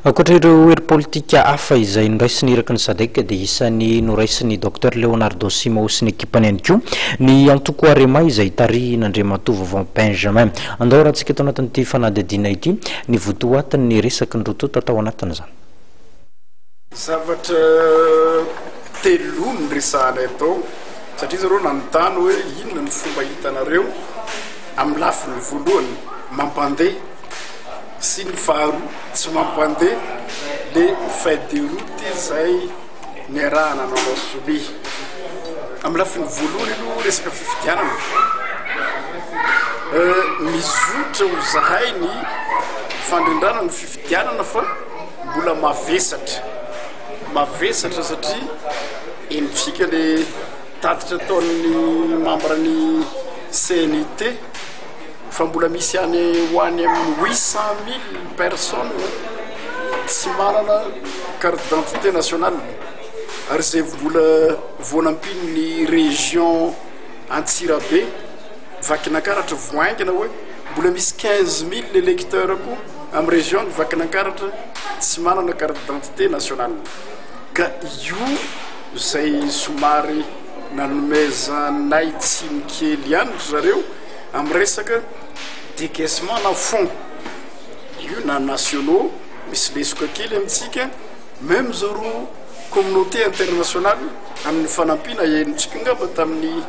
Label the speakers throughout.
Speaker 1: Ankoatra ireo hery politika hafa izay noraisin'ny irakin'ny Sadec dia isan'ny noraisin'i Docteur Leonardo Simao sy ny ekipany ihany koa ny antoko Arema izay tarihin'Andriamatoa Vaovao Benjamin. Andao arahantsika eto anatin'ity fanadihadiana ity ny votoatin'ny resaky ny roa tonta tao anatin'izany. Zavatra
Speaker 2: telo no niresahana eto satria izy ireo nanontany hoe inona no fomba hitanareo amin'ny lafiny voalohany mampandeha sy ny faharoa tsy mampandeha le feuille de route izay niarahana nanao sonia. Amin'ny lafiny voalohany aloha resaka fifidianana, mizotra ho zahay ny fandrindrana ny fifidianana fa mbola mavesatra, mavesatra satria henontsika le tatitra ataon'ny membre-n'ny CNIT. Fa mbola misy any ho any amin'ny huit cent mille personnes tsy manana carte d'identité nationale ary izay mbola vao nampian'ny région Antsirabe, Vakinankaratra vao haingana hoe mbola misy quinze mille électeurs koa amin'ny région ny Vakinankaratra tsy manana carte d'identité nationale. Ka io izay somary nanomezanay tsiny kely ihany ry zareo. amin'ny resaka decaissement na fonds io na nationaux misy lesoka kely amintsika meme zao ro communauté internationale amin'ny fanampiana henontsika ngamba tamin'ny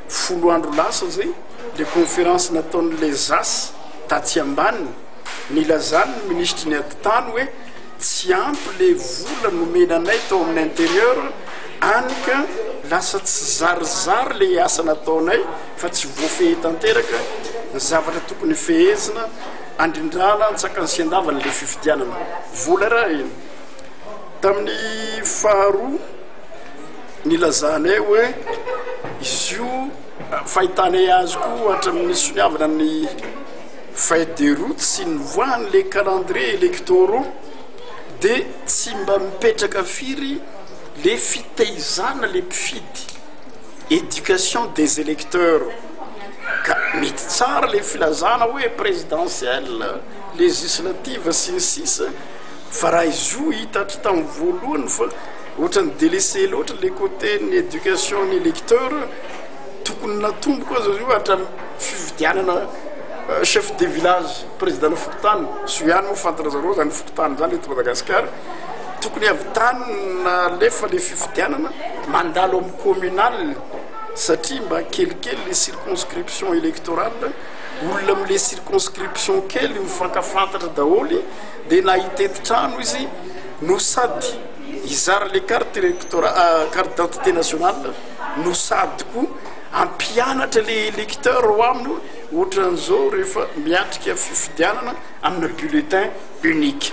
Speaker 2: folo andro lasa zay le conférence nataon'ny lezas tatsy ambaniny nilazany ny ministry ny aditany hoe tsy ampy le vola nomena anay tao amin'ny intérieur any ka lasa tsy zarizary le asa nataonay fa tsy voafehy tanteraka ny zavatra tokony hofehezina handrindrana antsakany sy handavany ilay fifidianana. Vola arahina. Tamin'ny faharoa nilazanay hoe izy io fahitanay azy koa hatramin'ny soniavana ny feuille de route sy ny voahan'ilay calendrier électoraux dia tsy mba mipetraka firy le fitehizana le mpifidy. Education des electeurs ka mety tsara le filazana hoe presidentielle, legislative sy ny sisa fa raha izoa hita hatry tamin'ny voalohany fa ohatran'ny delese loatra le cote ny education ny electeur tokony natomboko aza io hatram fividianana chef de village, president-na fokontany, zo ihany moa fantanazareo zany fokontany zany eto Madagasikara. tokony avy tany nalefa le fifidianana mandalo amin'ny communal satria mba kelikely le circonscription électorale olona amle circonscription kely mifankafantatra daholy de na hitety trano izy no sady izara le carte électorale ah, carte d'identité nationale no sady ko ampianatra le électeur ho aminy ohatran'izao rehefa miatrika fifidianana amina bulletin unique.